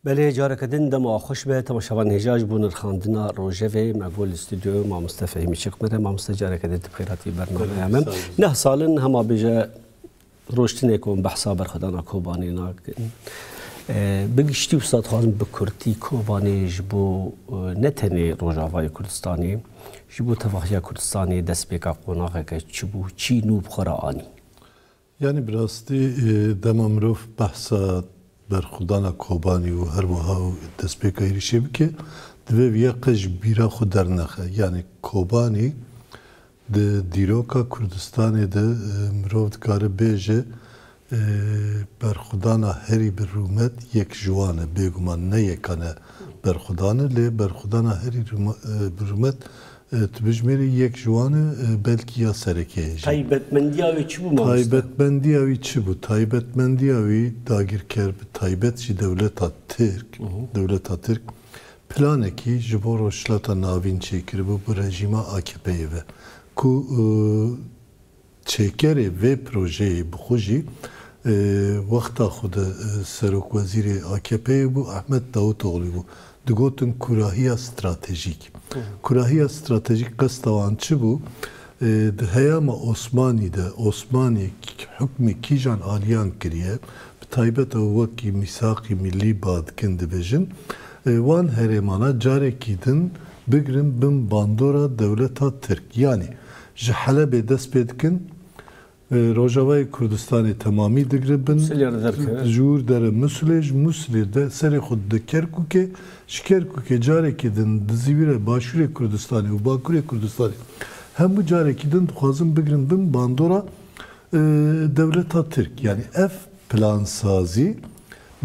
Belê careke din dema xweş be temaşevan hêja ji bo nirxandina rojevê me bû li stûdyoya mamoste Fehîmî Çikmere. Mamoste careke din tu bi xêr hatî bernameya me. Neh sal in hema bêje roj tune ku em behsa berxwedana Kobanê nakin. Bi giştî wisa dixwazim bi kurtî Kobanê ji bo ne tenê Rojavayê Kurdistanê ji bo tevahiya Kurdistanê destpêka qonaxeke çi bû, çi nû bi xwe re anî? Yanî bi rastî dema mirov behsa berxwedana Kobanî û her wiha û destpêka êrîşê bike, divê vê ya qij bîra xwe dernexe. Yanî Kobanî di dîroka Kurdistanê de mirov dikare bêje berxwedana herî bi rûmet yek ji wan e. Bêguman ne yekan e berxwedan e lê berxwedana herî bi rûmet Di bijmêrê yek ji wan e, belkî ya serekê ye jî. Taybetmendiya wî çi bû mamoste? Taybetmendiya wî çi bû? Taybetmendiya wî dagirker bi taybet jî dewleta Tirk, dewleta Tirk planekî ji bo Rojhilata Navîn çêkiribû bi rejîma AKP'ê ve ku Çêkerê vê projeyê bi xwe jî wexta xwe de serokwezîrê AKP'ê bû Ahmet Davutoglû bû. Digotin kurahiya stratejîk. Kurahiya stratejîk qesta wan çi bû? Di heyama Osmanî de Osmanî hukmê kîjan aliyan kiriye, bi taybet ew wekî mîsaqî mîllî ba dikin dibêjin, wan herêmana carekî din bigirin bin bandora dewleta Tirk. Yanî Ji Helebê dest pê dikin, rojavayê Kurdistanê temamî digribin, jûr dere Musilê, ji Musilê de serê xwe dide Kerkûkê, ji Kerkûkê carekî din dizîvire Başûrê Kurdistanê û Bakurê Kurdistanê. Hemû carekî din dixwazin bigrin bin bandora dewleta Tirk. Yanî ev plansazî.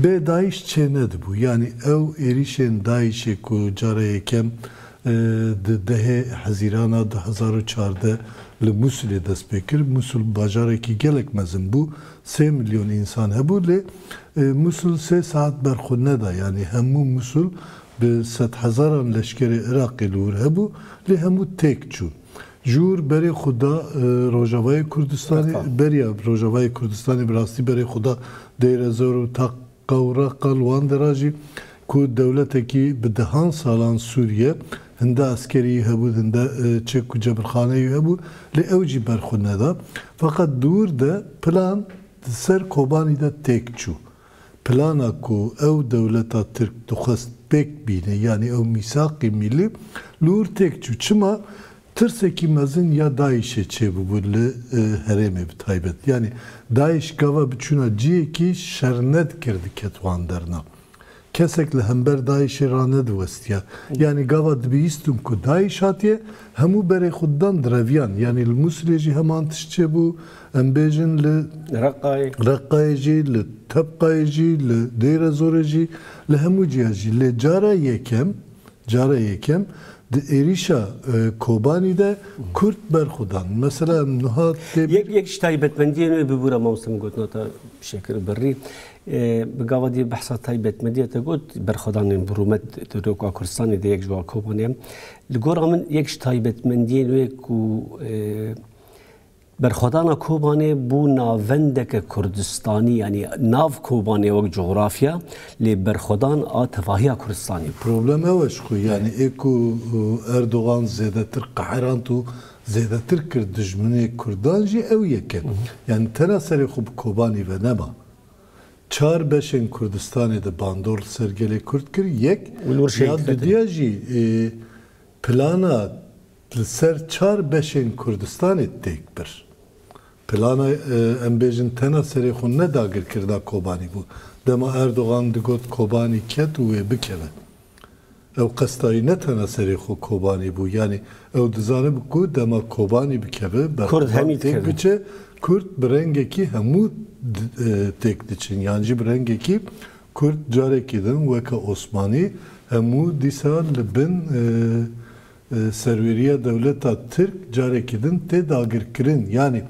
Bê dayîş çênedibû, yanî ew êrîşên dayîşê ku cara yekem di dehê hezîrana du hezar û çardeh li Mûsilê dest pê kir. Mûsil bajarekî gelek mezin bû, sê milyon însan hebû lê Mûsil sê saet ber xwe neda, yanî hemû Mûsil bi sedhezaran leşkerê Iraqê li wir hebû lê hemû têk çûn. Jûr berê xwe da Rojavayê Kurdistanê. Beriya Rojavayê Kurdistanê bi rastî berê xwe da Deyrezor û Takka û Reqqa li wan dera jî ku dewletekî bi dehan salan sûr ye, hinde eskerî hebû, hinde çek û cebirxaneyî hebû lê ew jî ber xwe neda. Feqet di wir de plan di ser Kobanî de têk çû. Plana ku ew dewleta Tirk dixwest pêk bîne yanî ew mîsaqê mîlî li hûr têk çû. Çima? Tirsekî mezin ya DAIŞ'ê çêbûbû li herêmê bi taybet. Yanî DAIŞ gava biçûna ciyekî şernedikir diket wan derna. Kesek li hember DAIŞ'ê ranediwestiya. Yanî gava dibihîstin ku DAIŞ hatiye hemû berê xwe didan di reviyan. Yanî li Mûsilê jî heman tişt çêbû. Em bêjin li Reqqayê jî, li Tebqayê jî, li Dêrezorê jî, li hemû cihê jî. Lê cara yekem, cara yekem di êrîşa Kobanî de Kurd berxwe dan. Mesela em nuha tê bîr. Yek ji taybetmendiyên wê bibû ra mamoste min gotina te bi şekir birrî. Bi gava dî behsa taybetmendiya te got, berxwedanên bi rûmet di roka Kurdistanê de yek ji wan Kobanê ye. Li gora min yek ji taybetmendiyên wê ku Berxwedana Kobanê bû navendeke Kurdistanî yanî nav Kobanê wek cografya lê berxwedan a tevahiya Kurdistanê bû. Problem ew e ji xwe yanî ê ku Erdogan zêdetir qeherand û zêdetir kir dijminê Kurdan jî ew yek e. Yanî tena serê xwe bi Kobanî ve nema. Çar beşên Kurdistanê de bandor li ser gelê Kurd kir, yek ya dudiya jî plana Li ser çar beşên Kurdistanê têk bir. Plana em bêjin tena serê xwe ne dagirkirina Kobanî bû. Dema Erdogan digot Kobanî ket û wê bikeve. Ew qesta wî ne tena serê xwe Kobanî bû. Yanî ew dizanibû ku dema Kobanî bikeve, Berxwedan têk biçe, Kurd bi rengekî hemû têk diçin. Yan jî bi rengekî Kurd carekî din weke Osmanî hemû dîsa li bin Serweriya dewleta Tirk carekî din tê dagirkirin. Yanî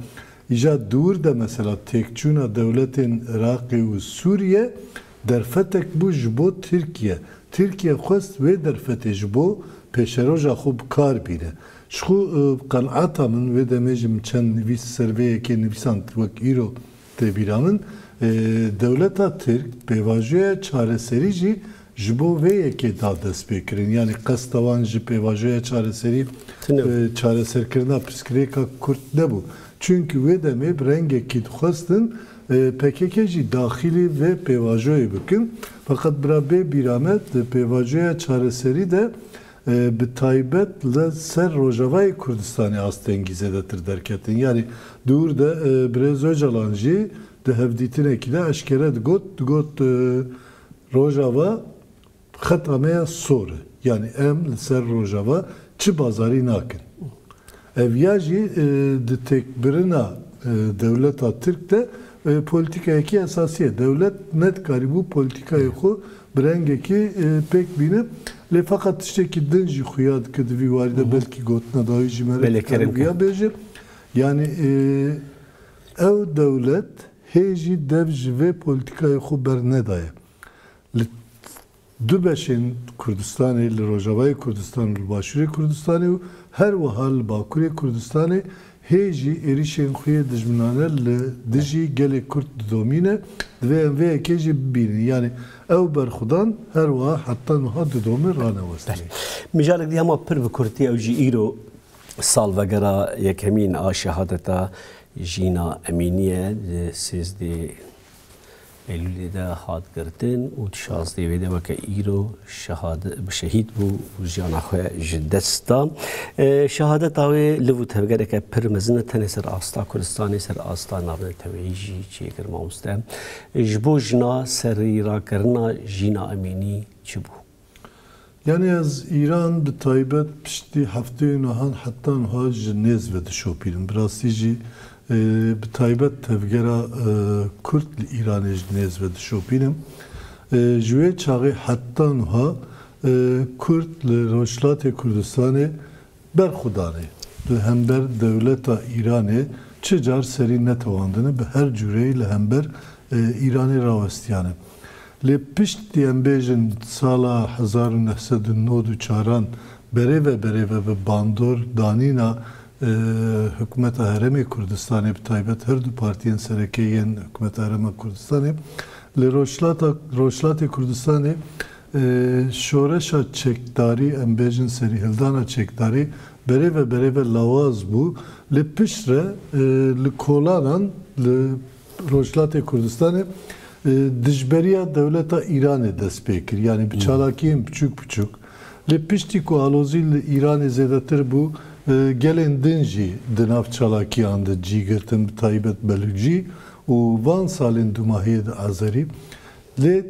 îja dûr de mesela têkçûna dewletên Iraqê û Sûriye derfetek bû ji bo Tirkiye. Tirkiye xwest wê derfetê ji bo pêşeroja xwe bi kar bîne. Ji xwe bi qenata min wê demê jî min çend nivîs li ser vê yekê nivîsand wek îro Tê bîranîn, dewleta tirk pêvajoya çareserî jî ji bo vê yekê da destpêkirin. Yanî qesta wan ji pêvajoya çareserî çareserkirina pirsgirêka Kurd nebû. Çimkî wê demê bi rengekî dixwestin pkk jî daxilî vê pêvajoyê bikin. Feqet bira bê bîra me di pêvajoya çareserî de Bi taybet li ser Rojavayê Kurdistanê astengî zêdetir derketin. Yanî di ûr de Birêz Ocalan jî di hevdîtinekî de eşkere digot, digot Rojava xeta me ya sor e. Yanî em li ser Rojava çi bazarî nakin. Ev ya jî di têkbirina dewleta Tirk de polîtîkayekî esasî ye. Dewlet nedikarîbû polîtîkayê xwe bi rengekî pêk bîne. Lê feqet tiştekî din jî xuya dike di vî warî de belkî gotina dawî jî me re dikarî vîya bêje. Yanî ew dewlet hê jî dev ji vê polîtîkayê xwe bernedaye. Li Du beşên Kurdistanê li Rojavayê Kurdistan û li Başûrê Kurdistanê û her wiha li Bakurê Kurdistanê hê jî êrîşên xwe yê dijminane li dijî gelê Kurd didomîne, divê em vê yekê jî bibînin. Yanî ew berxwedan her wiha heta nuha didomin ranewestinê. Mijara di hema pir bi kurtî ew jî îro salvegera yekemîn a şehadeta Jîna Emînî ye. Di sêzdeh Eylûlê de hat girtin û di şazdê wê de weke îro şehîd bû û jiyana xwe ji dest da. Şehadeta wê liv û tevgereke pir mezin e tenê ser asta Kurdistanê, ser asta navneteweyî jî çêkir. Mamoste ji bo jina serîrakirina Jîna Emînî çi bû? Yanî ez Îran bi taybet piştî hefteyên wehan heta niha ji nêz ve dişopînim. Bi rastî jî bi taybet tevgera Kurd li Îranê ji nêz ve dişopînim. Ji wê çaxê heta niha Kurd li Rojhilatê Kurdistanê Berxwedanê li hember dewleta Îranê çi car serî netewandine bi her cûreyî li hember Îranê rawestiyane. Lê pişt di em bêjin sala hezar û neh sed û nod û çaran berêve berêve bi bandor danîna hikûmeta herêmê Kurdistanê bi taybet her du partiyên serekê yên hikûmeta herêma Kurdistanê li rojhilata rojhilatê Kurdistanê Şoreşa çekdarî, em bêjin serîhildana çekdarî berêve berêve lawaz bû lê pişt re li kolanan li Rojhilatê Kurdistanê dijberiya dewleta Îranê dest pê kir. Yanî bi çalakiyên piçûk piçûk. Lê piştî ku alozî li Îranê zêdetir bû, gelên din jî di nav çalakiyan de cî girtin bi taybet Belûcî û van salên dûmahiyê de Azerî. Lê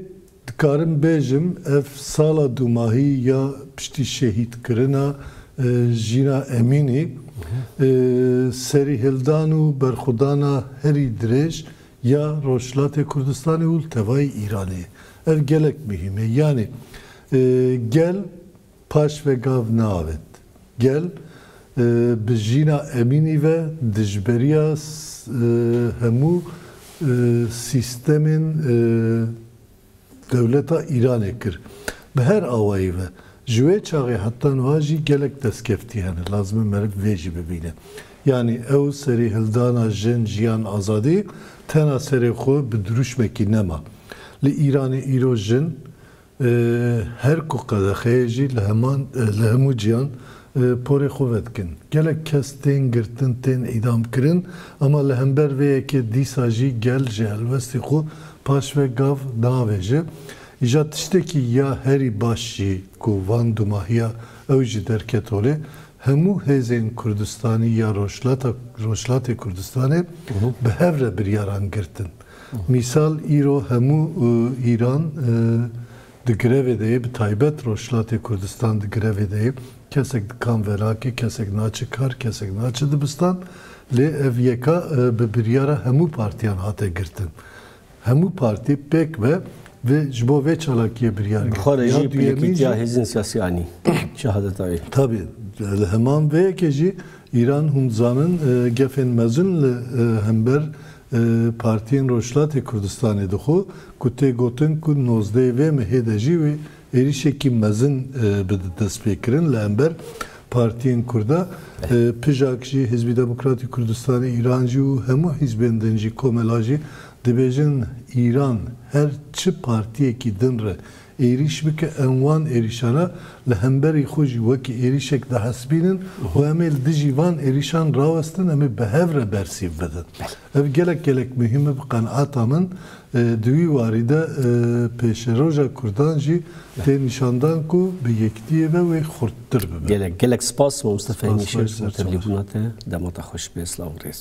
Dikarim bêjim ev sala dumahî ya piştî şehîdkirina Jîna Emînî, serîhildan û berxwedana herî dirêj ya Rojhilatê Kurdistanê û li tevayî Îranê ye. Ev gelek muhîm e. Yanî gel. Paş ve gav neavêt. Gel bi jîna Emînî ve dijberiya hemû sîstemên dewleta Îranê kir. Bi her awayî ve. Ji wê çaxê heta nuha jî gelek destkeftî hene. Lazim e meriv vê jî bibîne. Yanî ew serê hildana jin, jiyan, azadî tena serê xwe bi dirûşmekî nema. Li Îranê îro jin Her ku qedexeyê jî li heman li hemû cîhan porê xwe vedikin. Gelek kes tên girtin tên îdam kirin ama li hember vê yekê dîsa jî gel ji helwestî xwe paş ve gav naavêje. Îja tiştekî ya herî baş jî ku van dumahiya ew jî derket holê hemû hêzên Kurdistanî ya Rojhilata Rojhilatê Kurdistanê bi hev re biryaran girtin. Mîsal îro hemû Îran di grevê de ye, bi taybet Rojhilatê Kurdistan di grevê de ye. Kesek dikan velakê, kesek naçe kar, kesek naçe dibistan. Lê ev yeka bi biryara hemû partiyan hate girtin. Hemû partî pêk ve vê ji bo vê çalakiyê biryar girt. Dixwere jî pilekîtiya hêzên siyasî anî şehadeta wê. Tabî li heman vê yekê jî Îran hûn dizanin gefên mezin li hember Partiyên Rojhilatê Kurdistanê dixwe ku tê gotin ku nozdeyê vê mehê de jî wê êrîşekî mezin bi destpêkirin li hember partiyên Kurda. Pijak jî Hizbî Demokratî Kurdistanê Îran jî û hemû hîzbên din jî komela jî dibêjin Îran her çi partiyekî din re êrîş bike, em wan êrîşa re li hemberî xwe jî wekî êrîşek dihesibînin û em ê li dijî van êrîşan rawestin, em ê bi hev re bersîv bidin. Ev gelek gelek muhîm e bi qeneata min. Di wî warî de pêşeroja Kurdan jî tê nîşandan ku bi yekdiyê ve wê xurttir bibe. Gelek gelek spas mamoste Fehîmî Şêx ji bo tevlîbûna te. Dema te xweş be. Silav û rêz.